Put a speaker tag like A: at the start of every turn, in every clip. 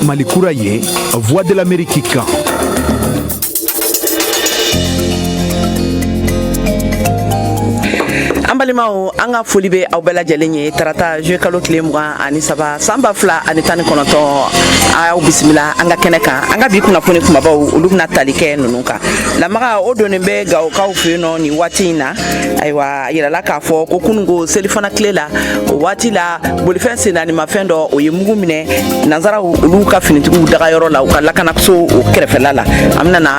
A: Malikura ye voix de l'amérique kan
B: An balimaw an ka foli bɛ aw bɛɛ lajɛlen ye tarata zuluye kalo tile mugan ani saba san ba fila ani tan ni kɔnɔntɔn aw bisimila an ka kɛnɛ kan an ka bi kunnafoni kumabaw olu bɛna tali kɛ ninnu kan lamaga o donnen bɛ gawokaw fɛ yen nɔ nin waati in na ayiwa a yirala k'a fɔ ko kununko selifana tile la o waati la bolifɛn sennaanimafɛn dɔ o ye mugu minɛ nansaraw olu ka finitigiw dagayɔrɔ la u ka lakanaso o kɛrɛfɛla la an bɛna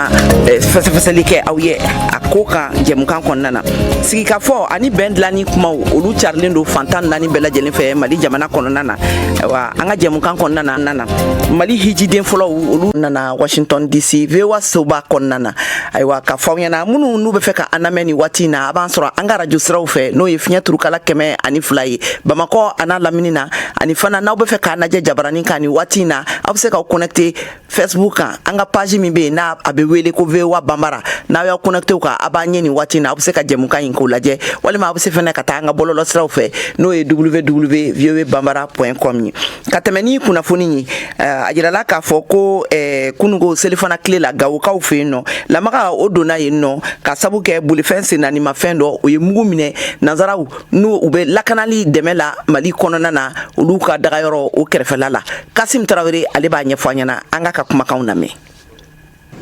B: eh, fɛsɛfɛsɛli kɛ aw ye a ko kan jɛmukan kɔnɔna na sigikafɔ ani bɛn dilanni kumaw olu carilen don fantan naani bɛɛ lajɛlen fɛ mali jamana kɔnɔna na ayiwa an ka jɛmukan kɔnɔna na mali hijiden fɔlɔw olu nana washington dc voa soba kɔnɔna na ayiwa ka fɔ ɲɛna minnu n'u bɛ fɛ ka an lamɛn nin waati in na a b'an sɔrɔ an ka arajo siraw fɛ n'o ye fiɲɛ turukala kɛmɛ ani fila ye bamakɔ an'a lamini na ani fana n'aw bɛ fɛ k'an lajɛ jabaranin kan nin waati in na aw bɛ se k'aw connecte facebook kan an ka page min bɛ yen n'a bɛ wele ko voa banbara n'aw y'aw connecte o kan a b'an ye nin waati in na aw bɛ se ka jɛmukan in k'o lajɛ walima aw bɛ se fana ka taa an ka bɔlɔlɔ siraw fɛ n'o ye www voa banbara point com ye ka tɛmɛ ni kunnafoni ye eh, a jirala k'a fɔ ko eh, kunungo selifana tile la gawokaw fɛ yen nɔ lamaga o donna yen nɔ k'a sabu kɛ bolifɛn sennaanimafɛn dɔ o ye mugu minɛ nanzaraw n'u bɛ lakanali dɛmɛ la mali kɔnɔna na olu ka dagayɔrɔ o kɛrɛfɛla la kasim tarawele ale b'a ɲɛfɔ an ɲɛna an k'a ka kumakanw lamɛn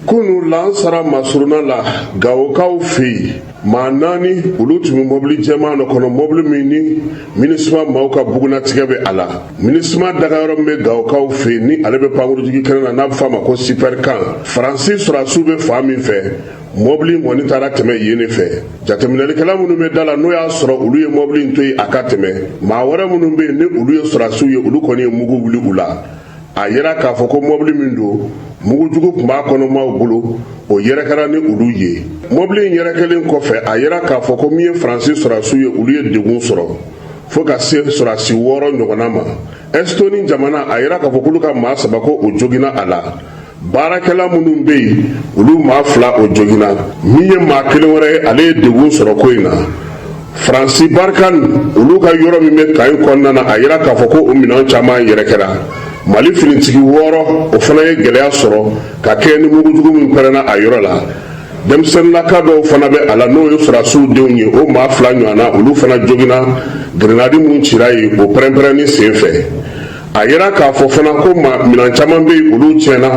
C: kunun lansara masuruna la gawokaw fɛ yen maa naani olu tun bɛ mɔbili jɛman dɔ kɔnɔ mɔbili min ni minisima maaw ka bugunnatigɛ bɛ a la minisima dagayɔrɔ min bɛ gawokaw fɛ yen ni ale bɛ pankurunjigi kɛnɛ na n'a bɛ fɔ a ma ko sipɛrikan faransi sɔrɔdasiw bɛ fan min fɛ mɔbili in kɔni taara tɛmɛ yen de fɛ jateminɛlikɛla minnu bɛ da la n'o y'a sɔrɔ olu ye mɔbili in to yen a ka tɛmɛ maa wɛrɛ minnu bɛ yen ni olu ye sɔrɔdasiw ye olu kɔni ye mugu wuli u la a yera k'a fɔ ko mɔbili min don mugujugu tun b'a kɔnɔmaaw bolo o yɛrɛkɛra ni olu ye mɔbili in yɛrɛkɛlen kɔfɛ a yera k'a fɔ ko min ye faransi sɔrasiw ye olu ye degun sɔrɔ fɔɔ ka se sɔrasi wɔɔrɔ ɲɔgɔnna ma ɛsitoni jamana a yera k'a fɔ k'olu ka maa saba ko o joginna a la baarakɛla minnu bɛ yen olu maa fila o joginna min ye maa kelen wɛrɛ ye ale ye degun sɔrɔ ko in na faransi barikani olu ka yɔrɔ min bɛ kan in kɔnɔna na a yera k'a fɔ ko o minɛn caman yɛrɛkɛra mali finitigi wɔɔrɔ o fana ye gɛlɛya sɔrɔ ka kɛɲɛ ni mugujugu min pɛrɛnna a yɔrɔ la denmisɛnninlaka dɔw fana bɛ a la n'o ye sɔrɔdasiw denw ye o maa fila ɲɔgɔnna olu fana joginna grenadi minnu cira yen o pɛrɛnpɛrɛnni sen fɛ a yera k'a fɔ fana ko ma minan caman bɛ yen olu tiɲɛna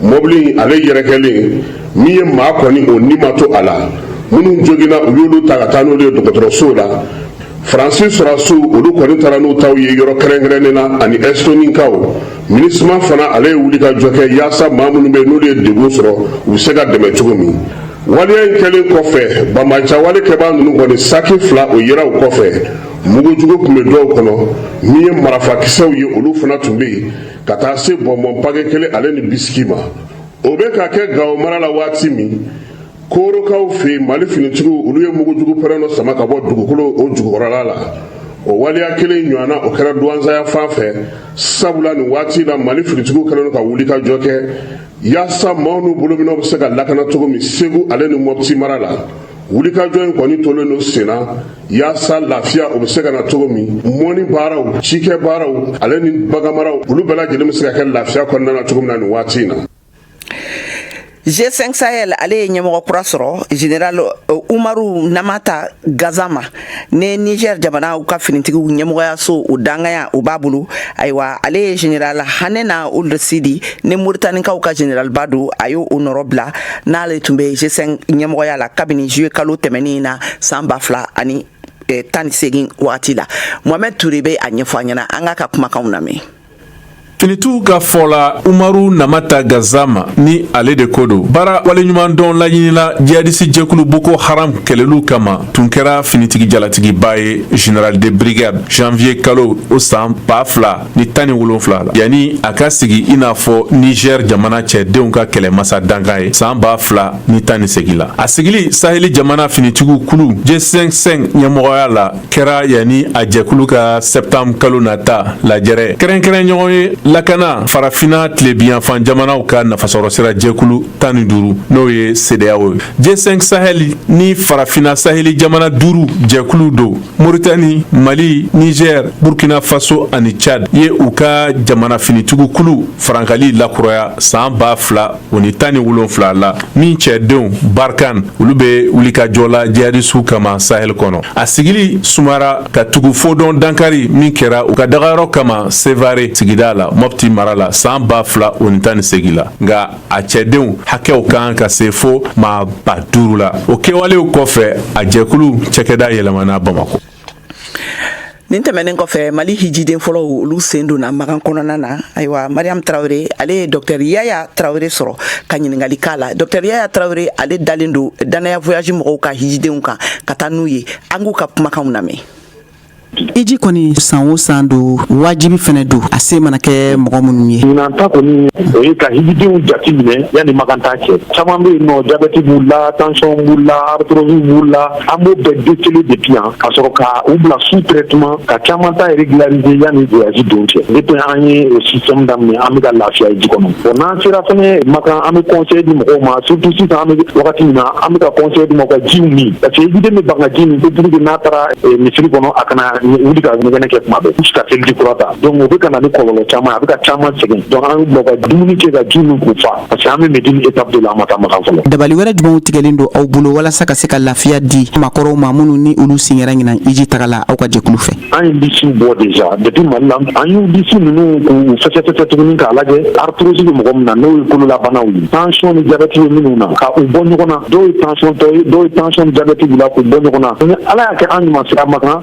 C: mɔbili ale yɛrɛ kɛlen min ye maa kɔni o ni ma to a la minnu joginna u y'olu ta ka taa n'olu ye dɔgɔtɔrɔsow la faransi sɔrɔdasiw olu kɔni taara n'u taw ye yɔrɔ kɛrɛnkɛrɛnnen na ani ɛstonikaw minisima fana ale ye wuli ka jɔ kɛ yaasa maa minnu bɛ n'olu ye degun sɔrɔ u bɛ se ka dɛmɛ cogo min waleya in kɛlen kɔfɛ banbaanciya wale kɛbaa ninnu kɔni saki fila o yera u kɔfɛ mugujugu tun bɛ dɔw kɔnɔ min ye marafakisɛw ye olu fana tun bɛ yen ka taa se bɔnbɔn pake kelen ale ni bisiki ma o bɛ ka kɛ gawo mara la waati min korokaw fɛ mali finitigiw olu ye mugujugu pɛrɛn dɔ sama ka bɔ dugukolo o jukɔrɔla la o waleya kelen ɲɔgɔnna o kɛra duwansa yanfan fɛ sabula nin waati la mali finitigiw kɛlen ka wuli ka jɔ kɛ yaasa maaw n'u bolominɛnw bɛ se ka lakana cogo min segu ale ni mɔpti mara la wulikajɔ in kɔni tolen don senna yaasa lafiya o bɛ se ka na cogo min mɔni baaraw cikɛ baaraw ale ni baganmaraw olu bɛɛ lajɛlen bɛ se ka kɛ lafiya kɔnɔna na cogo min na nin waati in na G5
B: Sahel ale ye ɲɛmɔgɔ kura sɔrɔ général euh, Umaru Namata Gazama ni niger jamana u ka finitigiw ɲɛmɔgɔyaso o dankanya o b'a bolo ayiwa ale ye general hanena ould sidi ni moritanikaw ka generalba don a y'o o nɔrɔ bila n'ale tun bɛ g5 ɲɛmɔgɔya la kabini juillet kalo tɛmɛnin na san ba fila ani eh, tan ni segin wagati la mohamɛd ture bɛ a ɲɛfɔ an ɲɛna an k'a ka kumakanw lamɛn
D: Finitigiw ka fɔ la Umaru Namata Gazama ni ale de ko don baara waleɲumandɔn laɲini na jihadisi jɛkulu Boko Haram kɛlɛliw kama tun kɛra finitigi jalatigiba ye General de brigade janvier kalo o san ba fila ni tan ni wolonfila la yanni a ka sigi i n'a fɔ Niger jamana cɛdenw ka kɛlɛmasa dankan ye san ba fila ni tan ni segin la a sigili saheli jamana finitigiw kulu G5 ɲɛmɔgɔya la kɛra yanni a jɛkulu ka septembre kalo nata lajɛrɛ kɛrɛnkɛrɛn ɲɔgɔnye lakana farafina tilebiyanfan jamanaw ka nafasɔrɔsira jɛkulu tan ni duuru n'o ye sedeyawo ye g5 sahɛli ni farafina saheli jamana duuru jɛkulu don moritani mali nizɛr burkina faso ani chad ye u ka jamana finitigikulu farankali lakuraya san ba fila o ni tan ni wolonfila la min cɛdenw barkan olu bɛ wulikajɔ la jihadisiw kama sahel kɔnɔ a sigili sumara ka tugu fodɔn dankari min kɛra u ka dagayɔrɔ kama sevare sigida la mɔpti mara la san ba fila o ni tan ni segi la nka a cɛdenw hakɛw kan ka se fo maa ba duuru la o kɛwalew kɔfɛ a jɛkulu cakɛda yɛlɛmana bamako
B: nin tɛmɛnen kɔfɛ mali hijiden fɔlɔw olu sen donna makan kɔnɔna na ayiwa mariam tarawele ale ye dɔtɛr yaya tarawele sɔrɔ ka ɲininkali k'a la dɔtɛr yaya tarawele ale dalen don dannaya voyage mɔgɔw ka hijidenw kan ka taa n'u ye an k'u ka kumakanw lamɛn hiji
E: kɔni san o san don wajibi fana don a se mana kɛ mɔgɔ minnu ye ɲinan ta kɔni
F: o ye ka hijidenw jati minɛ yanni makan taa cɛ caman bɛ yen nɔ jabɛti b'u la tension b'u la arthrose b'u la an b'o bɛɛ déceler depuis yan ka sɔrɔ ka u bila sous traitement ka caman ta régulariser yani voyage don cɛ depuis an ye o système daminɛ an bɛ ka lafiya hiji kɔnɔ bon n'an sera fɛnɛ Makan an bɛ conseil di mɔgɔw ma surtout sisan an bɛ wagati min na an bɛ ka conseil di mɔgɔw ka jiw min parce que hijiden bɛ ban ka ji min ko pour que n'a taara eh, misiri kɔnɔ a kana wuli ka ɲɛgɛnɛ kɛ tuma bɛɛ jusqu'à seliji kura ta donc o bɛ ka na ni kɔlɔlɔ caman a bɛ ka caman sɛgɛn donc an b'u bila ka dumuni kɛ ka ji min k'u fa Parce que an bɛ Médine étape de la an ma taa Makan fɔlɔ. Dabali wɛrɛ jumɛnw
E: tigɛlen don aw bolo walasa ka se ka lafiya di maakɔrɔw ma minnu ni olu sen kɛra ɲinan hiji taga la aw ka jɛkulu fɛ? An ye lisiw bɔ
F: déjà depuis Mali la, an y'u lisi ninnu k'u fɛsɛfɛsɛ tuguni k'a lajɛ arthrose bɛ mɔgɔ min na n'o ye kololabanaw ye, tension ni jabɛti bɛ minnu na ka u bɔ ɲɔgɔn na, dɔw ye tension tɔ ye, dɔw ye tension ni jabɛti b'u la k'u bɔ ɲɔgɔn na, ni Ala y'a kɛ an ɲuman sera Makan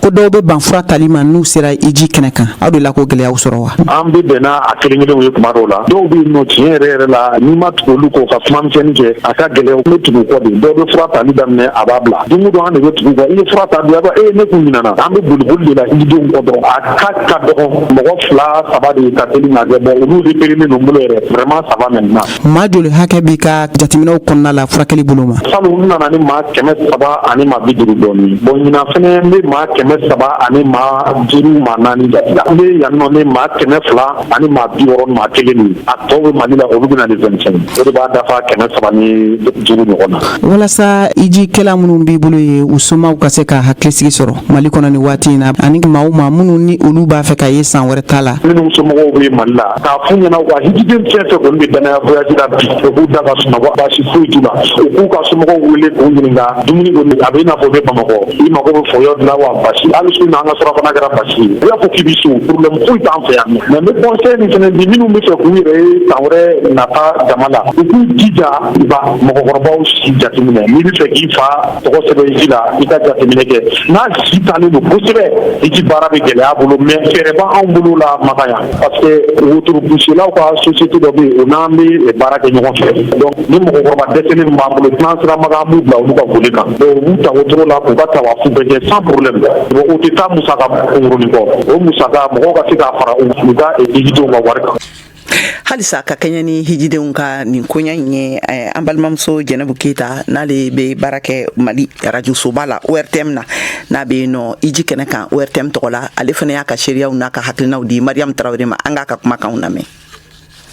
E: ko dɔw bɛ ban fura tali ma n'u sera hiji kɛnɛ kan aw dela k'o gɛlɛyaw sɔrɔ wa an bɛ bɛn n'a
F: kelen kelenw ye kuma dɔw la dɔw bɛ yen nɔ tiɲɛ yɛrɛ yɛrɛ la n'i ma tugu olu kɔ ka kuma misɛnni kɛ a ka gɛlɛya n bɛ tugu kɔ de dɔw bɛ fura tali daminɛ a b'a bila don o don an de bɛ tugu kɔ i ye fura ta don a b'a e ne kun ɲinana an bɛ boli boli de la hijidenw kɔ dɔrɔn a ka ka dɔgɔn mɔgɔ fila saba de ka teli ka kɛ bɔn olu de repérélen don n bolo yɛrɛ vraiment ça va maintenant maa joli hakɛ
E: b'i ka jateminɛw kɔnɔna la furakɛli bolo ma salon n nana ni
F: maa kɛmɛ saba ani maa bi duuru dɔɔni bɔn ɲinan fɛnɛ n be maa kɛmɛ saba ani maa duuru maa naani jati la n be yan nɔ ni maa kɛmɛ fila ani maa bi wɔrɔ maa kelen de a tɔw be mali la olu bena le vingt-cinq o de b'a dafa kɛmɛ saba ni duuru ɲɔgɔn na walasa
E: hijikɛla minnu b'i bolo ye u somaw ka se ka hakilisigi sɔrɔ mali kɔnɔ ni waati in na ani maa o maa minnu ni olu b'a fɛ ka ye san wɛrɛ ta la minnu somɔgɔw be mali
F: la a k'a f'u ɲɛna wa hijiden fɛn fɛn kɔni bɛ dannaya voyage la bi o k'u da ka sunɔgɔ baasi foyi t'u la u k'u ka somɔgɔw wele k'u ɲininka dumuni kɔni a bɛ i n'a fɔ i bɛ Bamakɔ i mago bɛ fɔyɔ de la wa basi hali su in na an ka surafana kɛra basi ye i b'a fɔ k'i bɛ so problème foyi t'an fɛ yan mais n bɛ conseil min fana di minnu bɛ fɛ k'u yɛrɛ ye san wɛrɛ nata jama la u k'u jija u ka mɔgɔkɔrɔbaw si jateminɛ n'i bɛ fɛ k'i fa tɔgɔ sɛbɛn hiji la i ka jateminɛ kɛ n'a si taalen don kosɛbɛ hiji baara bɛ gɛlɛya a bolo mais fɛɛrɛ b'anw bolo la Makan yan Parce que wotoropusilaw ka société dɔ bɛ yen o n'an bɛ baara kɛ ɲɔgɔn fɛ donc ni mɔgɔkɔrɔba dɛsɛlen b'an bolo n'an sera Makan an b'u bila olu ka bolo kan u b'u ta wotoro la u ka tawafu bɛɛ kɛ sans problème o tɛ taa musaka kunkurunnin kɔ o musaka mɔgɔw ka se k'a fara u ka hijidenw ka wari kan halisa
B: ka kɛɲɛ ni hijidenw ka nin koɲa in ye eh, an balimamuso jɛnɛbu keyita n'ale bɛ baara kɛ mali arajosoba la ORTM na n'a bɛ yen nɔ hiji kɛnɛ kan ORTM tɔgɔ la ale fana y'a ka seereyaw n'a ka hakilinaw di Mariam Tarawele ma an k'a ka kumakanw lamɛn.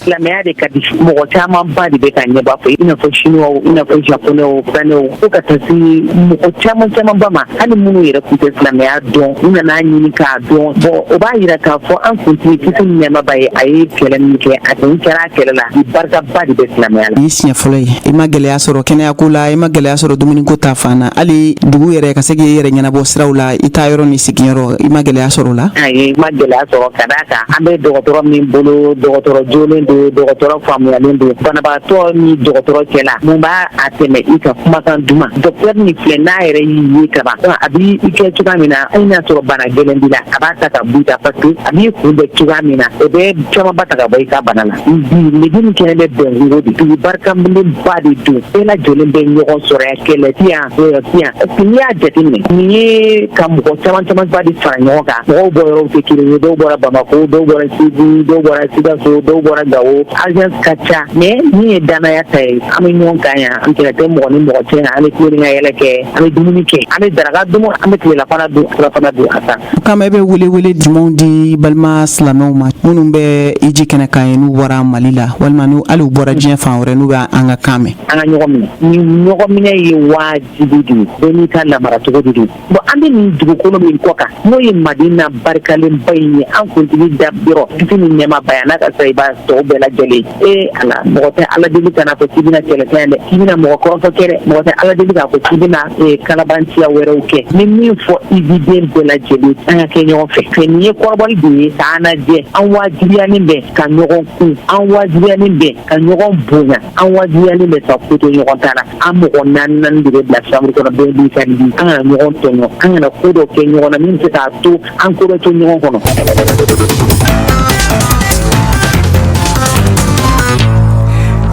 B: silamɛya
G: de ka di mɔgɔ camanba de bɛ ka ɲɛba fɔ i n'a fɔ chinois i n'a fɔ japonais fɛnɛw fo ka taa se mɔgɔ caman camanba ma hali minnu yɛrɛ tun tɛ silamɛya dɔn u nan'a ɲini k'a dɔn bon o b'a yira k'a fɔ an kuntigi kisi ni nɛɛma b'a ye a ye kɛlɛ min kɛ a tun kɛra a kɛlɛ la barikaba de bɛ silamɛya la. i siɲɛ fɔlɔ ye
E: i
G: ma
E: gɛlɛya sɔrɔ kɛnɛya ko la i ma gɛlɛya sɔrɔ dumuni ko ta fan na hali dugu yɛrɛ ka se k'i yɛrɛ ɲɛnabɔ siraw la i taa yɔrɔ n'i sigiyɔrɔ i ma gɛlɛya
G: sɔrɔ
E: o la
G: ayi
E: ma
G: gɛlɛya sɔrɔ ka d'a kan
E: an
G: bɛ dɔgɔtɔrɔ min bolo dɔgɔtɔrɔ jolen don dɔgɔtɔrɔ faamuyalen don banabagatɔ ni dɔgɔtɔrɔ cɛla mun b'a a tɛmɛ i ka kumakan duman dɔktɛri nin filɛ n'a yɛrɛ y'i ye kaban a b'i kɛ cogoya min na hali n'a sɔrɔ bana gɛlɛn b'i la a b'a ta ka bɔ i kan parce que a b'i kunbɛn cogoya min na o bɛ camanba ta ka bɔ i ka bana la bi hiji nin kɛnɛ bɛ bɛnkungo de dugu barikalenba de don bɛɛ lajɛlen bɛ ɲɔgɔn sɔrɔ yan kɛlɛ ti yan wɔyɔ ti yan parce que n'i y'a jateminɛ nin ye ka mɔgɔ caman camanba de fara ɲɔgɔn kan mɔgɔw bɔ yɔrɔw tɛ kelen ye dɔw bɔra bamako dɔw bɔra segu dɔw bɔra sikaso dɔw bɔra gawo agence ka ca mais min ye danaya ta ye an bɛ ɲɔgɔn kan yan an kɛlɛ tɛ mɔgɔ ni mɔgɔ cɛ an bɛ tulon kɛ ka yɛlɛ kɛ an bɛ dumuni kɛ an bɛ daraka dun an bɛ tilelafana dun surafana dun ka taa. O kama e bɛ welewele
E: jumɛnw di balima silamɛw ma minnu bɛ hiji kɛnɛ kan yen n'u bɔra Mali la walima n'u hali u bɔra diɲɛ fan wɛrɛ n'u bɛ an ka kan mɛn. An ka ɲɔgɔn minɛ
G: ni ɲɔgɔn minɛ ye waajibi de ye bɛɛ n'i ka lamaracogo de don bon an bɛ nin dugukolo min kɔ kan n'o ye madina barikalenba in ye an kuntigi da yɔrɔ kisi ni nɛɛma b'a ye n'a ka sahaba tɔw bɛɛ lajɛlen ee ala mɔgɔ tɛ ala deli ka n'a fɔ k'i bɛna kɛlɛ kɛ dɛ k'i bɛna mɔgɔ kɔrɔfɔ kɛ dɛ mɔgɔ tɛ ala deli k'a fɔ k'i bɛna kalabanciya wɛrɛw kɛ n bɛ min fɔ hijiden bɛɛ lajɛlen an ka kɛ ɲɔgɔn fɛ fɛ nin ye kɔrɔbɔli de ye k'an lajɛ an wajibiyanin bɛ ka ɲɔgɔn kun an wajibiyanin bɛ ka ɲɔgɔn bonya an wajibiyalen bɛ ka ko to ɲɔgɔn ta la an mɔgɔ naani de bɛ bila chambre kɔnɔ bɛɛ n'i ka lit an kana ɲɔgɔn tɔɲɔ an kana ko dɔ kɛ ɲɔgɔn na min bɛ se k'a to an ko bɛ to ɲɔgɔn kɔnɔ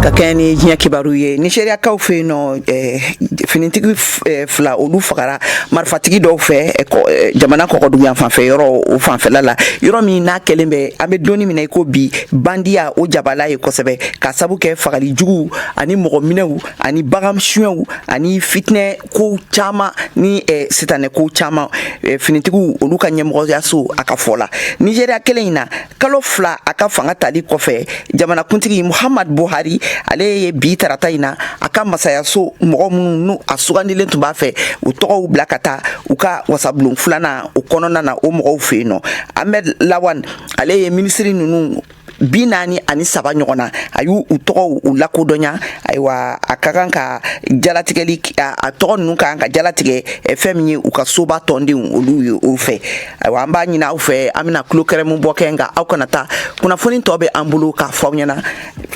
B: ka kɛɲɛ ni diɲɛ kibaru ye nizeriyakaw fɛ yen nɔ eh, finitigi eh, fila olu fagara marifatigi dɔw fɛ eh, jamana kɔgɔduguyanfanfɛ yɔrɔ o fanfɛla la yɔrɔ min n'a kɛlen bɛ an bɛ don min na i ko bi bandiya o jabala ye kosɛbɛ ka sabu kɛ fagali juguw ani mɔgɔ minɛw ani bagan suɲɛw ani fitinɛ kow caman ni eh, sitanɛ kow caman eh, finitigiw olu ka ɲɛmɔgɔyaso a ka fɔ la nizeriya kelen in na kalo fila a ka fanga tali kɔfɛ jamanakuntigi muhamad buhari ale ye bi tarata in na a ka masayaso mɔgɔ minnu n'u a sugandilen tun b'a fɛ u tɔgɔw bila ka taa u ka wasabulon filanan o kɔnɔna na o mɔgɔw fɛ yen nɔ ahmed lawan ale ye minisiri ninnu bi naani ani saba ɲɔgɔn na a y'u u tɔgɔw u lakodɔnya ayiwa a ka kan ka jalatigɛli a tɔgɔ ninnu ka kan ka jalatigɛ eh, fɛn min ye u ka soba tɔndenw olu ye o fɛ ayiwa an b'a ɲini aw fɛ an bɛna tulo geren bɔ kɛ nka aw kana taa kunnafoni tɔ bɛ an bolo k'a fɔ aw ɲɛna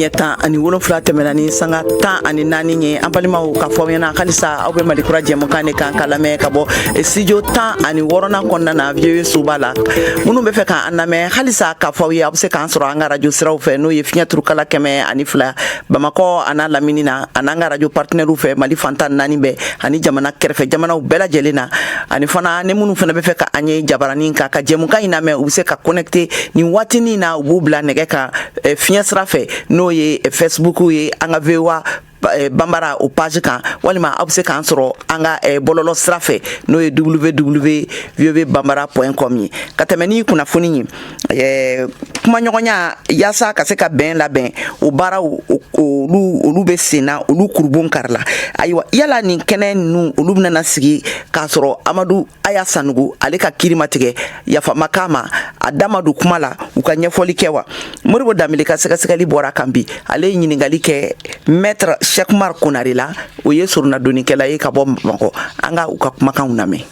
B: ɲɛ tan ani wolonfila tɛmɛna ni sanga tan ani naani ye an balimaw k'a fɔ aw ɲɛna halisa aw bɛ malikura jɛmukan de kan ka lamɛn ka bɔ eh, studio tan ani wɔɔrɔnan kɔnɔna na VOA soba la minnu bɛ fɛ k'an lamɛn halisa k'a fɔ aw ye aw bɛ se k'an sɔrɔ an ka radio siraw fɛ n'o ye fiɲɛ turukala kɛmɛ ani fila bamakɔ an'a lamini na ani an ka radio partenaires fɛ Mali fan tan naani bɛɛ ani jamana kɛrɛfɛ jamanaw bɛɛ lajɛlen na ani fana ni minnu fana bɛ fɛ ka an ye jabaranin kan ka jɛmukan in lamɛn u bɛ se ka connecter nin waatinin na u b'u bila nɛgɛ kan eh, fiɲɛ sira fɛ n'o ye eh, Facebook ye an ka VOA eh, Bambara o page kan walima aw bɛ se k'an sɔrɔ an ka bɔlɔlɔ sira fɛ n'o ye www.voabambara.com ye ka tɛmɛ ni kunnafoni ye ɛɛ kumaɲɔgɔnya yaasa ka se ka bɛn labɛn o baaraw olu bɛ senna olu kurunbonkari la ayiwa yala nin kɛnɛ ninnu olu bɛna sigi k'a sɔrɔ amadu aya sanɔgɔ ale ka kiri ma tigɛ yafa ma k'a ma a da ma don kuma la u ka ɲɛfɔli kɛ wa modibo danbele ka sɛgɛsɛgɛli bɔr'a kan bi ale ye ɲininkali kɛ maître cheikh oumar konare la o ye soronadonnikɛla ye ka bɔ bamakɔ an ka u ka kumakanw lamɛn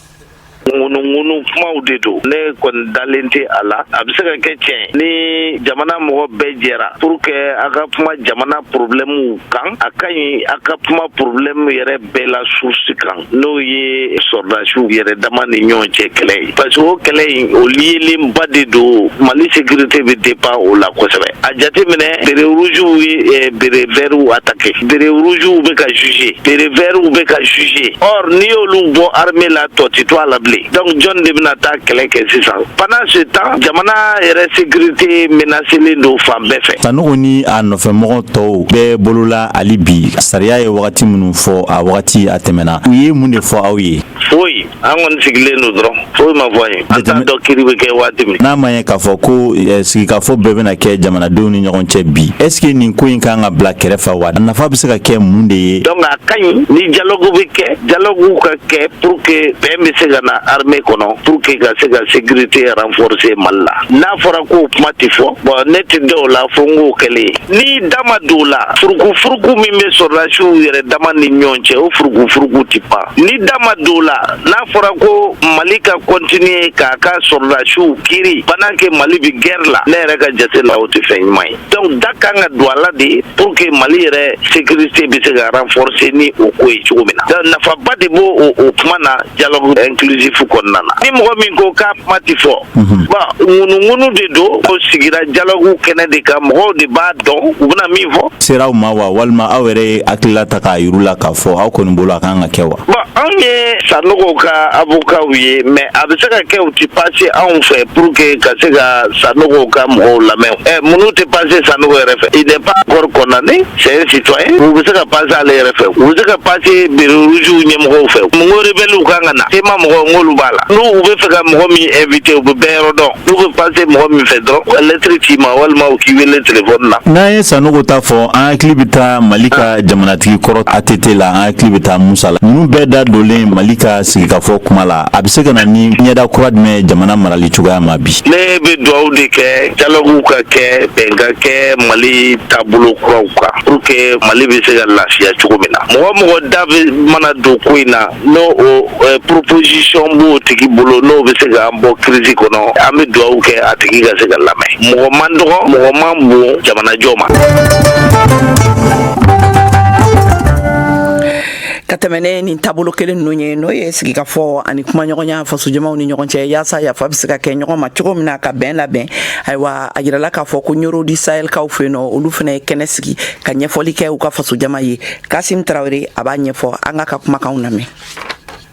H: ŋunuŋunu kumaw de don ne kɔni dalen tɛ a la a bɛ se ka kɛ tiɲɛ ni jamana mɔgɔ bɛɛ jɛra pour que a ka kuma jamana problɛmu kan a ka ɲi a ka kuma problɛmu yɛrɛ bɛɛ la source kan n'o ye sɔrɔdasiw yɛrɛ dama ni ɲɔgɔn cɛ kɛlɛ ye parce que o kɛlɛ in o liyelenba de don mali sécurité bɛ dépend o la kosɛbɛ a jateminɛ béret rougew ye eh, béret vertw attaqué Béret rougew bɛ ka juger béret vertw bɛ ka juger or n'i y'olu bɔ armée la tɔ tɛ to a la bilen donc jɔn de bɛna taa kɛlɛ kɛ sisan pendant ce temps jamana yɛrɛ sécurité menacélen don fan bɛɛ fɛ sanɔgɔ ni
I: a nɔfɛmɔgɔ tɔw bɛ bolo la hali bi sariya ye wagati minnu fɔ a wagati a tɛmɛna u ye mun de fɔ aw ye foyi an
H: kɔni sigilen don dɔrɔn foyi ma fɔ an ye an t'a dɔn kiri bɛ kɛ waati min n'a ma ye k'a fɔ
I: ko eh, sigikafɔ bɛɛ bɛna kɛ jamanadenw ni ɲɔgɔn cɛ bi est ce que nin ko in kan ka bila kɛrɛfɛ wa a nafa bɛ se ka kɛ mun de ye donc a ka ɲi ni
H: dialogue bɛ kɛ dialogue ka kɛ pour que bɛn bɛ se ka na armée kɔnɔ pour que ka se ka sécurité renforcer mali la n'a fɔra k'o kuma tɛ fɔ bon ne tɛ d'o la fo n k'o kɛlen ye ni da ma don o la furukufuruku min bɛ sɔrɔdasiw yɛrɛ dama ni ɲɔgɔn cɛ o furukufuruku tɛ ban ni da ma don la n'a fɔra ko mali ka continuer k'a ka sɔrɔdasiw kiri pendant que mali bɛ guerre la ne yɛrɛ ka jate la o tɛ fɛn ɲuman ye donc da kan ka don a la de pour que mali yɛrɛ sécurité bɛ se ka renforcer ni o ko ye cogo min na donc nafaba de b'o kuma na dialogue inclusif kɔnɔna na ni mɔgɔ min ko k'a kuma tɛ fɔ bon ŋunuŋunu de don ko sigira dialogue kɛnɛ de kan mɔgɔw de b'a dɔn u bɛna min fɔ sera aw ma wa
I: walima aw yɛrɛ ye hakilila ta k'a yira u la k'a fɔ aw kɔni bolo a kan ka kɛ wa bon anw ye
H: sanogow ka avokaw ye mais a bɛ se ka kɛ u tɛ passer anw fɛ pour que ka se ka sanogow ka mɔgɔw lamɛn ɛ mun na u tɛ passer sanogo yɛrɛ fɛ il n'est pas encore condamné c'est un citoyen u bɛ se ka passer ale yɛrɛ fɛ u bɛ se ka passer béret rougew ɲɛmɔgɔw fɛ mun ko rebɛliw kan ka na CMA mɔgɔ n k'olu b'a la n'u bɛ fɛ ka mɔgɔ min inviter u bɛ bɛɛ yɔrɔ dɔn n'u bɛ passer mɔgɔ min fɛ dɔrɔn u ka lettre ci i ma walima u k'i wele téléphone na. N'an ye Sanogo ta fɔ
I: an hakili bɛ taa Mali ka jamanatigi kɔrɔ ATT la an hakili bɛ taa Musa la ninnu bɛɛ da donlen Mali ka sigikafɔ kuma la a bɛ se ka na ni ɲɛda kura jumɛn ye jamana marali cogoya ma bi. Ne bɛ dugawu
H: de kɛ dialogue ka kɛ bɛn ka kɛ Mali taabolo kuraw kan pour que Mali bɛ se ka lafiya cogo min na mɔgɔ o mɔgɔ da bɛ mana don ko in na n'o proposition b'o tigi bolo n'o bɛ se k'an bɔ crise kɔnɔ an bɛ dugawu kɛ a tigi ka se ka lamɛn mɔgɔ man dɔgɔ mɔgɔ man bon jamanajɔ ma
B: ka tɛmɛn ni nin taabolo kelen ninnu ye n'o ye sigikafɔ ani kumaɲɔgɔnya fasojamaw ni ɲɔgɔn cɛ yaasa yafa bɛ se ka kɛ ɲɔgɔn ma cogo min na ka bɛn labɛn ayiwa a jirala k'a fɔ ko ɲɔrɔn du sahel kaw fɛ yen nɔ olu fana ye kɛnɛ sigi ka ɲɛfɔli kɛ u ka fasojama ye kasim tarawele a b'a ɲɛfɔ an k'a ka kumakanw lamɛn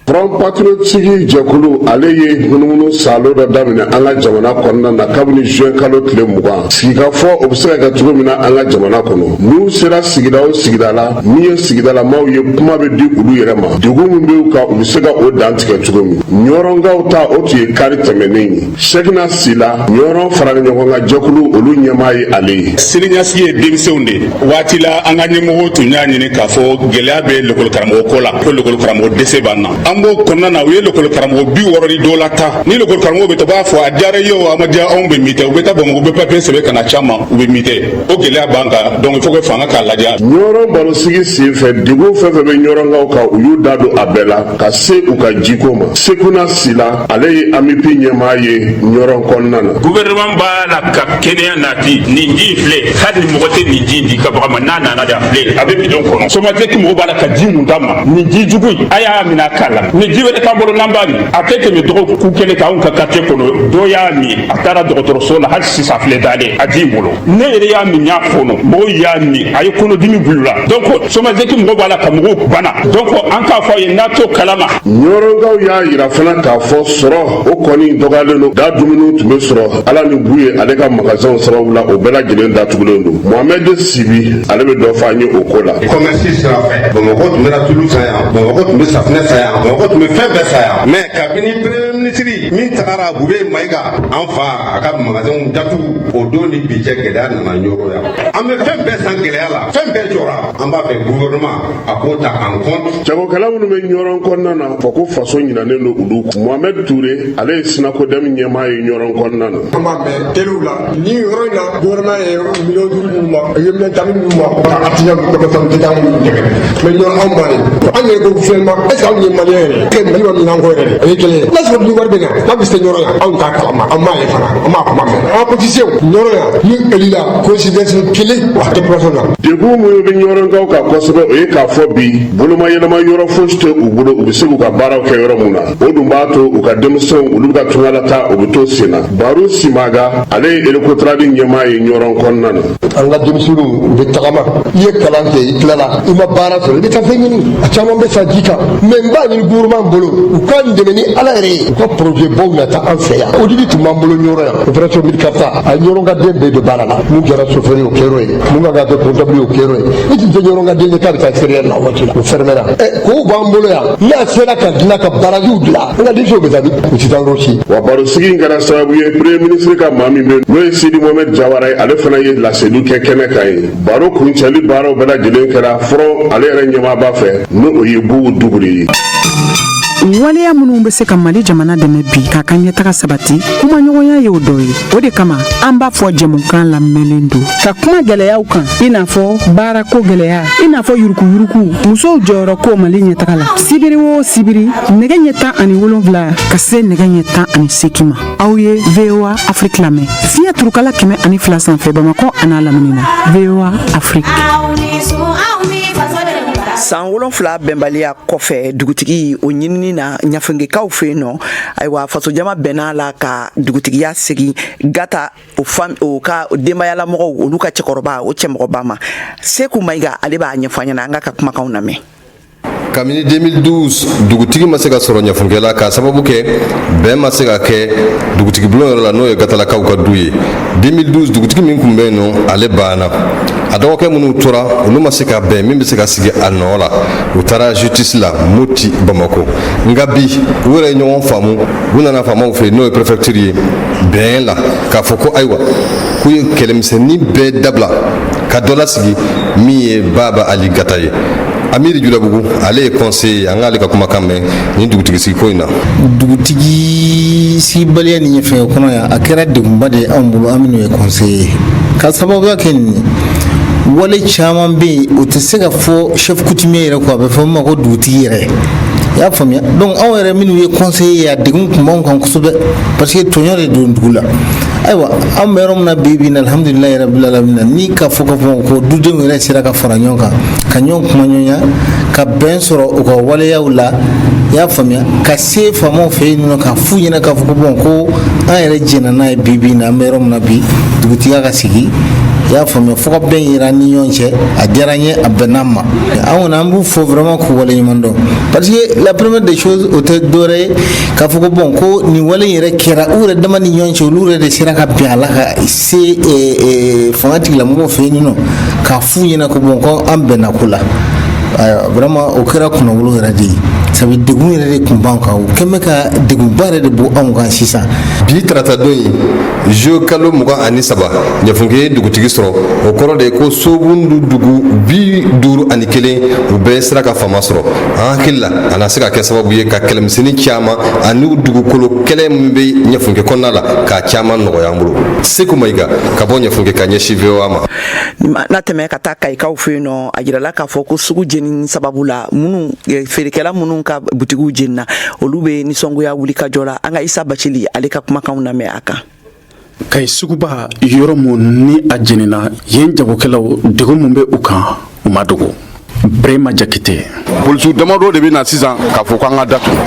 C: front patriotique jɛkulu ale ye munumunu saalo dɔ daminɛ an ka jamana kɔnɔna na kabini juin kalo tile mugan sigikafɔ o bɛ se ka kɛ cogo min na an ka jamana kɔnɔ n'u sera sigida o sigida la min ye sigidalamaw ye kuma bɛ di olu yɛrɛ ma degun min bɛ u kan u bɛ se ka o dantigɛ cogo min ɲɔrɔnkaw ta o tun ye kari tɛmɛnen ye sekuna sila ɲɔrɔn farali ɲɔgɔn kan jɛkulu olu ɲɛmaa ye ale ye siniɲɛsigi ye
J: denmisɛnw de waati la an ka ɲɛmɔgɔw tun y'a ɲini k'a fɔ gɛlɛya bɛ lekɔlikaramɔgɔ ko la ko lekɔlikaramɔgɔ dɛsɛ b'an na an b'o kɔnɔna na u ye lekɔlikaramɔgɔ bi wɔɔrɔ ni dɔw lataa ni lekɔlikaramɔgɔ bɛ taa u b'a fɔ a diyara i ye o a ma diya anw bɛ muter u bɛ taa bamakɔ u bɛ papiye sɛbɛn ka na caman u bɛ muter o gɛlɛya b'an kan donc il faut que fanga k'a lajɛ ɲɔrɔn barosigi
C: sen fɛ degun fɛn o fɛn bɛ ɲɔrɔnkaw kan u y'u da don a bɛɛ la ka se u ka jiko ma sekuna sila ale ye amip ɲɛmaa ye ɲɔrɔn kɔnɔna na guvɛrɛnɛman b'a
K: la ka kɛnɛya nati nin ji filɛ hali mɔgɔ tɛ nin ji di i ka bagan ma n'a nana de a filɛ a bɛ bidon kɔnɔ somatɛki mɔgɔ b'a la ka ji min d'an ma nin ji jugu in a y'a minɛ a k'a la ni ji wɛrɛ t'an bolo n'an b'a min a tɛ tɛmɛ dɔgɔkun kelen kan anw ka quartier kɔnɔ dɔ y'a min a taara dɔgɔtɔrɔso la hali sisan a filɛ dalen a ji in bolo ne yɛrɛ y'a min y'a fɔnɔ mɔgɔw y'a min a ye kɔnɔdimi bil'u la donc somagep mɔgɔw b'a la ka mɔgɔw bana donc an k'a fɔ a ye n'a t'o kalama ɲɔrɔnkaw y'a
C: yira fana k'a fɔ sɔrɔ o kɔni dɔgɔyalen don da dumuniw tun bɛ sɔrɔ ala ni buye ale ka magasinw sababu la o bɛɛ lajɛlen datugulen don mohamɛd sibi ale bɛ dɔ fɔ an ye o ko la kɔmɛsi sira
L: fɛ bamakɔ tun bɛ na tulu san yan bamakɔ tun bɛ safinɛ san yan bamakɔ tun bɛ fɛn bɛɛ san yan mɛ kabini premier minisiri min tagara bubɛyi mayiga an fa a ka magasinw datugu o don ni bi cɛ gɛlɛya nana ɲɔrɔn yan an bɛ fɛn bɛɛ san gɛlɛya la fɛn bɛɛ jɔra an b'a fɛ guvɛrɛnɛma a k'o ta en compte jagokɛla minnu bɛ
C: ɲɔrɔn kɔnɔna na fɔ ko faso ɲinalen don olu kɔ mohamɛd ture ale ye sinakodɛm ɲɛmaa ye ɲɔrɔn kɔnɔna na an b'a mɛn telew la
M: nin yɔrɔ in na gouvernement ye million duuru minnu ma u ye million tan di minnu ma ka artisan ninnu kɔfɛ fɛn tɛgɛ minnu dɛmɛ mɛ ɲɔrɔn anw b'a ye an yɛrɛ ko finalement est ce que anw ye maliyɛn yɛrɛ kɛ mali ma minan ko yɛrɛ de o ye kelen ye n'a sɔrɔ ni wari bɛ na n'a bɛ se ɲɔrɔn yan anw t'a kalama an m'a ye fana an m'a kuma mɛn an politicienw ɲɔrɔn yan ni eli la coïncidence kelen a tɛ plasɔn na degun minnu bɛ
C: ɲɔrɔnkaw kan kosɛbɛ o ye k'a fɔ bi bolomayɛlɛma yɔrɔ fosi tɛ u bolo u bɛ se k'u ka baaraw kɛ yɔrɔ min na o dun b'a to u ka denmisɛnw olu ka tungalataa o bɛ to sen na baro simaga ale ye recotrade ɲɛmaa ye ɲɔrɔn kɔnɔna na an ka denmisɛnninw
M: u bɛ tagama i ye kalan kɛ i tilala i ma baara sɔrɔ i bɛ taa fɛn ɲini a caman bɛ sa ji kan mɛ n b'a ɲini gouvernement bolo u k'an dɛmɛ ni ala yɛrɛ ye u ka projet baw nati an fɛ yan odik tun b'an bolo ɲɔrɔn yan opération mil kaarta a ye ɲɔrɔnka den bɛɛ don baara la mun kɛra chauffeur ye o kɛr'o ye mun ka kan ka kɛ comptable ye o kɛr'o ye i tun tɛ ɲɔrɔnka den ye k'a bɛ taa extérieur la o waati la o fɛrɛmɛra ɛ kɔw b'an bolo yan n'a sera ka dilan ka barajiw dilan an ka denmisɛnw bɛ taa min u tɛ taa yɔrɔ si. wa barosigi in
C: kɛra sababu ye premier ministre ka maa min bɛ yen n'o ye sidi mohamɛd jawara ye ale fana ye laseli kɛ kɛnɛ kan yen baro kuncɛli baaraw bɛɛ lajɛlen kɛra forum ale yɛrɛ ɲɛmaaba fɛ ni o ye bubu dukure
E: ye. waleya minnu bɛ se ka mali jamana dɛmɛ bi k'a ka ɲɛtaga sabati kumaɲɔgɔnya ye o dɔ ye o de kama an b'a fɔ jɛmukan lamɛnlen don ka kuma gɛlɛyaw kan i n'a fɔ baarako gɛlɛya i n'a fɔ yurukuyuruku musow jɔyɔrɔ ko mali ɲɛtaga la sibiri o sibiri nɛgɛ ɲɛ tan ani wolonfila ka se nɛgɛ ɲɛ tan ani seegin ma aw ye voa afiriki lamɛn fiɲɛ turukala kɛmɛ ani fila sanfɛ bamakɔ an'a lamini na voa
B: afiriki san wolonfila bɛnbaliya kɔfɛ dugutigi o ɲinini na ɲafunkekaw fɛ yen nɔ ayiwa fasojama bɛnn'a la ka dugutigiya segin gata o fa o ka denbayalamɔgɔw olu ka cɛkɔrɔba o cɛmɔgɔba ma seku mayiga ale b'a ɲɛfɔ ɲɛna an k'a ka kumakan lamɛn kabini
N: 2012 dugutigi ma se ka sɔrɔ ɲafunke la k'a sababu kɛ bɛn ma se ka kɛ dugutigibulon yɔrɔ la n'o ye gatalakaw ka du ye 2012 dugutigi min tun bɛ yen nɔ ale banna a dɔgɔkɛ minnu tora olu ma se ka bɛn min bɛ se ka sigi a nɔ la u taara justice la moti bamako nka bi u yɛrɛ ye ɲɔgɔn faamu u nana faamaw fɛ yen n'o ye préfecture ye bɛn la k'a fɔ ko ayiwa k'u ye kɛlɛmisɛnnin bɛɛ dabila ka dɔ lasigi min ye baba ali gata ye amiri julabugu ale ye conseiller ye an k'ale ka kumakan mɛn nin dugutigi sigi ko in na
O: dugutigi sigibaliya nin ɲɛfunke kɔnɔ yan a kɛra degunba de ye anw bolo an minnu ye conseiller ye ka sababuya kɛ nin wale caman bɛ yen o tɛ se ka fɔ chef coutumier yɛrɛ kɔ a bɛ fɔ min ma ko dugutigi yɛrɛ i y'a faamuya donc anw yɛrɛ minnu ye conseiller ye a degun kun b'anw kan kosɛbɛ parce que tɔɲɔ de don dugu la ayiwa an bɛ yɔrɔ min na bi bi in na alhamdulilayi rabil alamina ni k'a fɔ k'a fɔ ko dudenw yɛrɛ sera ka fara ɲɔgɔn kan ka ɲɔgɔn kumaɲɔgɔnya ka bɛn sɔrɔ u ka waleyaw la i y'a faamuya ka se faamaw fɛ yen nɔ k'a f'u ɲɛna k'a fɔ ko bon ko an yɛrɛ jɛnna n'a ye bi bi in na an bɛ yɔrɔ min na bi dugutigiya ka sigi i y'a faamuya fo ka bɛn yira an ni ɲɔgɔn cɛ a diyara n ye a bɛnna n ma an kɔni an b'u fo vraiment k'u waleɲuman dɔn parce que la première des choses o tɛ dɔwɛrɛ ye k'a fɔ ko bon ko nin wale in yɛrɛ kɛra u yɛrɛ dama ni ɲɔgɔn cɛ olu yɛrɛ de sera ka bɛn a la ka se eh, eh, fanga tigilamɔgɔw fɛ yen nɔ k'a f'u ɲɛna ko bon ko an bɛnna ko la ayiwa vraiment o kɛra kunnawolo yɛrɛ de ye sabu degun yɛrɛ de kun b'an kan o kɛn bɛ ka degunba yɛrɛ de bɔ anw kan sisan bi tarata don
N: in zuwɛn kalo mugan ani saba ɲɛfunke ye dugutigi sɔrɔ o kɔrɔ de ye ko sobundu dugu bi duuru ani kelen u bɛɛ sera ka faama sɔrɔ an hakili la a na se ka kɛ sababu ye ka kɛlɛmisɛnnin caman ani dugukolo kɛlɛ min bɛ ɲɛfunke kɔnɔna la k'a caman nɔgɔya an bolo seku mayiga ka bɔ ɲɛfunke ka ɲɛsin voa ma n'i mana tɛmɛ ka
B: taa kayikaw fɛ yen nɔ a jirala k'a fɔ ko sugu jenini sababu la minnu feerekɛla minnu ka butigiw jenina olu bɛ nisɔngoya wuli ka jɔ la an ka isa bacili ale ka kumakanw lamɛn a kan kayi
P: suguba yɔrɔ min ni a jenina yen jagokɛlaw degun min bɛ u kan u m'a dogo brema jakite polisiw damadɔ
Q: de bɛ na sisan k'a fɔ k'an ka datugu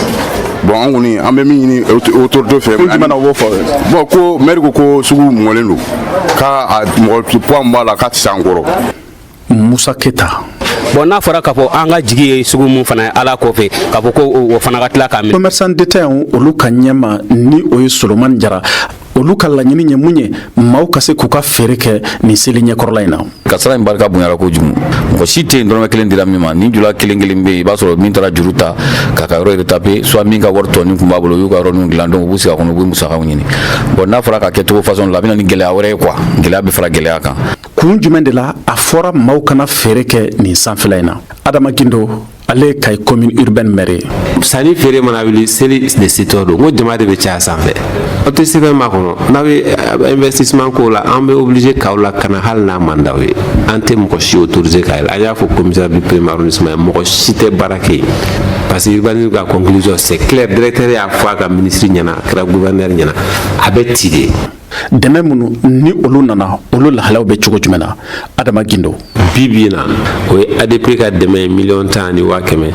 Q: bon an kɔni an bɛ min ɲini autorité fɛ ko jumɛn na u b'o fɔ bon ko maire ko ko sugu mɔlen don k'a mɔgɔ poids min b'a la k'a tɛ se an kɔrɔ
P: musa keta bon n'a
R: fɔra k'a fɔ an ka jigi ye sugu min fana ye ala kɔfɛ k'a fɔ ko o fana ka tila k'a minɛ commerçant détaillant
P: olu ka ɲɛmaa ni o ye solomani jara olu ka laɲini ye mun ye maaw ka se k'u ka feere kɛ nin seli ɲɛkɔrɔla in na kasara in barika
S: bonyara kojugu mɔgɔ si tɛ yen dɔrɔmɛ kelen dira min ma ni jula kelen kelen bɛ yen i b'a sɔrɔ min taara juru ta k'a ka yɔrɔ retaper soit min ka wari tɔni kun b'a bolo u y'u ka yɔrɔninw dilan donc u b'u sigi a kɔnɔ u bɛ musakaw ɲini bon n'a fɔra ka kɛ cogo façon la a bɛna ni gɛlɛya wɛrɛ ye quoi gɛlɛya bɛ fara gɛlɛya kan kun jumɛn de
P: la a fɔra maaw kana feere kɛ nin sanfɛla in na adama gindo ale ye kayi commune urbaine maire ye sanni feere mana
T: wuli seli de setɔ don n ko jama de bɛ caya sanfɛ o tɛ sɛbɛn ma kɔnɔ n'a bɛ eh, investissement ko la an bɛ obligé k'aw lakana hali n'a man d'aw ye an tɛ mɔgɔ si autoriser ka yɛlɛ an y'a fɔ commissaire du premier arrondissement ye mɔgɔ si tɛ baara kɛ yen parce que urbanisme ka conclusion c'est clair directeur y'a fɔ a ka ministre ɲɛna a kɛra gouverneur ɲɛna a bɛ ci de dɛmɛ
P: minnu ni olu nana olu lahalaw bɛ cogo jumɛn na adama gindo bi bi
T: na o ye adp ka dɛmɛ ye miliyɔn tan ani waa kɛmɛ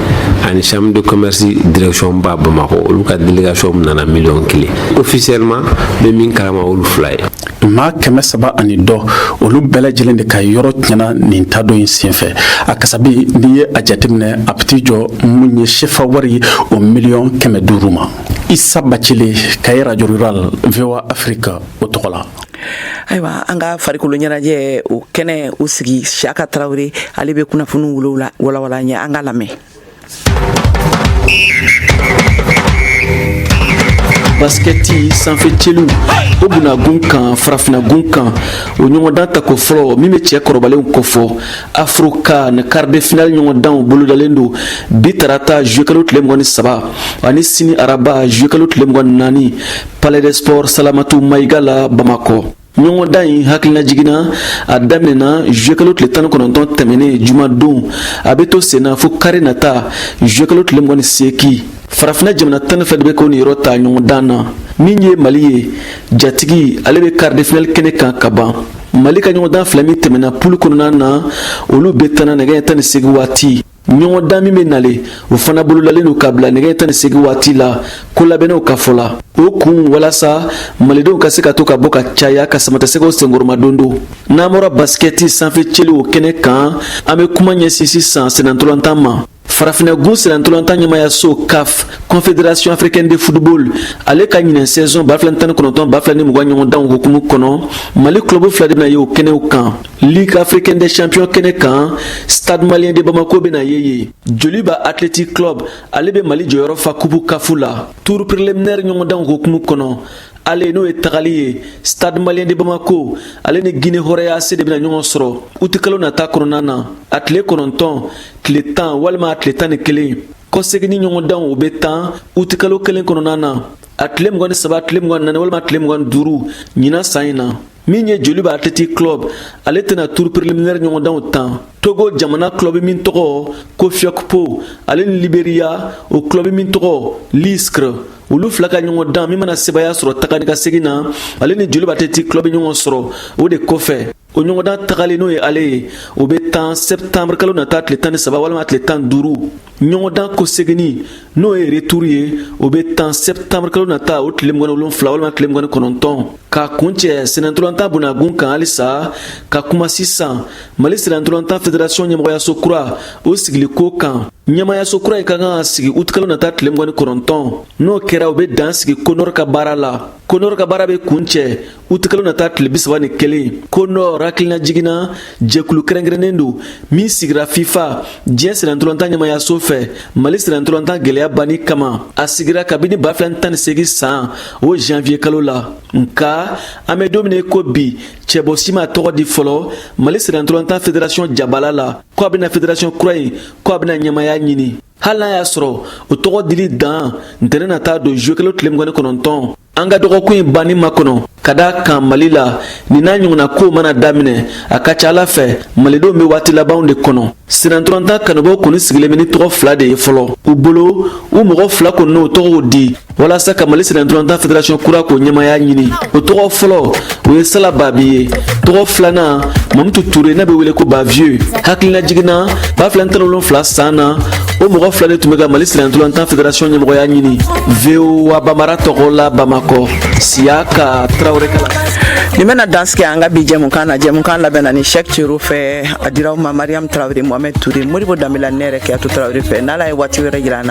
T: ani chambre de commerce direction ba bamakɔ olu ka delegation nana miliyɔn kelen officiellement an bɛ min kalama olu fila ye maa kɛmɛ
P: saba ani dɔ olu bɛɛ lajɛlen de ka yɔrɔ tiɲɛna nin tadon in senfɛ a kasabi n'i ye a jateminɛ a bɛ t'i jɔ mun ye sefa wari o miliyɔn kɛmɛ duuru ma isa bacili kayi radio rural voa afrique o tɔgɔ la ayiwa
B: an ka farikolo ɲɛnajɛ o kɛnɛ o sigi siyaka tarawele ale bɛ kunnafoniw olu walawala an ye an k'a lamɛn
E: basikɛti sanfɛ celi o bunagun kan farafinagun kan o ɲɔgɔndan tako fɔlɔ min bɛ cɛ kɔrɔbalenw kofɔ afrocan quart de finale ɲɔgɔndanw bolodalen don bi tarata zuyekalo tile mugan ni saba ani sini araba zuyekalo tile mugan ni naani palais des sports salamatu mayiga la bamakɔ ɲɔgɔndan in hakilinajigin na a daminɛna zuyekalo tile tan ni kɔnɔntɔn tɛmɛnen jumadon a bɛ to senna fo kari nata zuyekalo tile mugan ni segin farafinna jamana tan ni fila de bɛ k'u niyɔrɔ ta ɲɔgɔndan na min ye mali ye jatigi ale bɛ karidefinali kɛnɛ kan ka ban mali ka ɲɔgɔndan fila min tɛmɛna pulu kɔnɔna na olu bɛɛ tanna nɛgɛ ɲɛ tan ni segin waati ɲɔgɔndan min bɛ nale o fana bolodalen don ka bila nɛgɛ ɲɛ tan ni segin waati la ko labɛnnaw ka fɔ la o kun walasa malidenw ka se ka to ka bɔ ka caya ka samatasɛgɛw senkɔrɔmadondon n'an bɔra basikɛti sanfɛ celi o kɛnɛ kan an bɛ kuma ɲɛsin sisan senantolantan ma Farafinna gun senantolantan ɲɛmaayaso CAF Confédération africaine de football ale ka ɲinan saison 2019 2020 ɲɔgɔndanw hukumu kɔnɔ Mali club fila de bɛna ye o kɛnɛw kan Ligue africaine des champions kɛnɛ kan Stade malien de Bamako bɛna ye yen Joliba Athletic Club ale bɛ Mali jɔyɔrɔ fa kupu CAF la tour préliminaire ɲɔgɔndanw hukumu kɔnɔ ale n'o ye tagali ye stade malien de bamako ale ni guinée horoya AC de bɛna ɲɔgɔn sɔrɔ utikalo nata kɔnɔna na a tile kɔnɔntɔn tile tan walima a tile tan ni kelen kɔsegini ɲɔgɔndanw o bɛ tan utikalo kelen kɔnɔna na a tile mugan ni saba tile mugan ni naani walima tile mugan ni duuru ɲinan san in na min ye joliba athletic club ale tɛna tour préliminaire ɲɔgɔndanw tan togo jamana club min tɔgɔ ko fiɔkpo ale ni liberiya o club min tɔgɔ liscr olu fila ka ɲɔgɔndan min mana sebaya sɔrɔ taga ni ka segin na ale ni joliba athletic club bɛ ɲɔgɔn sɔrɔ o de kɔfɛ o ɲɔgɔndan tagali n'o ye ale ye o bɛ tan sɛbtanburu kalo nata tile tan ni saba walima tile tan duuru ɲɔgɔndan kɔseginni n'o ye returu ye o bɛ tan sɛbtanburu kalo nata o tile mugan ni wolonfila walima tile mugan ni kɔnɔntɔn ka kuncɛ sennantolatan bonda kunkan halisa ka kuma sisan mali sennantolatan federasɔn ɲɛmɔgɔyaso kura o sigili ko kan ɲɛmayaso kura in ka kan ka sigi utikalo nata tile mugan ni kɔnɔntɔn n'o kɛra u bɛ dan sigi konɔr ka baara la konɔr ka baara bɛ kuncɛ utikalo nata tile bisaba ni kelen konɔr hakilinajigin na jɛkulu kɛrɛnkɛrɛnnen don min sigira fifa diɲɛ sennantolatan ɲɛmayaso fɛ mali sennantolatan gwɛlɛya banni kama a sigira kabini ba fila tan ni segin san o janviye kalo la nka an be don min ko bi cɛbɔ si ma tɔgɔ di fɔlɔ mali sennantolatan federasiyɔn jabala la ko a bena federasiyɔn kura in ko a bena ɲɛmaya ɲini hali n'a y'a sɔrɔ o tɔgɔ dili dan ntɛnɛn nata don zuye kalo tile mugan ni kɔnɔntɔn an ka dɔgɔkun in banni makɔnɔ ka da kan mali la nin n'a ɲɔgɔnna kow mana daminɛ a ka ca a la fɛ malidenw be waati labanw de kɔnɔ sennantolatan kanubaw kɔni sigilen be ni tɔgɔ fila de ye fɔlɔ u bolo o mɔgɔ fila kɔni n'u tɔgɔw di walasa ka mali sennantolatan federasɔn kura k'o ɲɛmaya ɲini o tɔgɔ fɔlɔ o ye sala babi ye tɔgɔ filanan mamutu ture n'a bɛ wele ko bavieux hakilinajigin na ba fila tan wolonfila san na o mɔgɔ fila de tun bɛ ka mali sennantolatan federasɔn ɲɛmɔgɔya ɲini voa bambara tɔgɔ la bamakɔ siyaka tarawele kala nin bɛna dan
B: sigi an ka bi jɛmukan na jɛmukan labɛnna ni chek tiyero fɛ a dir'aw ma mariam tarawele mohamɛd ture modibo danbele ne yɛrɛ kajatu tarawele fɛ n'ala ye waati wɛrɛ jira an na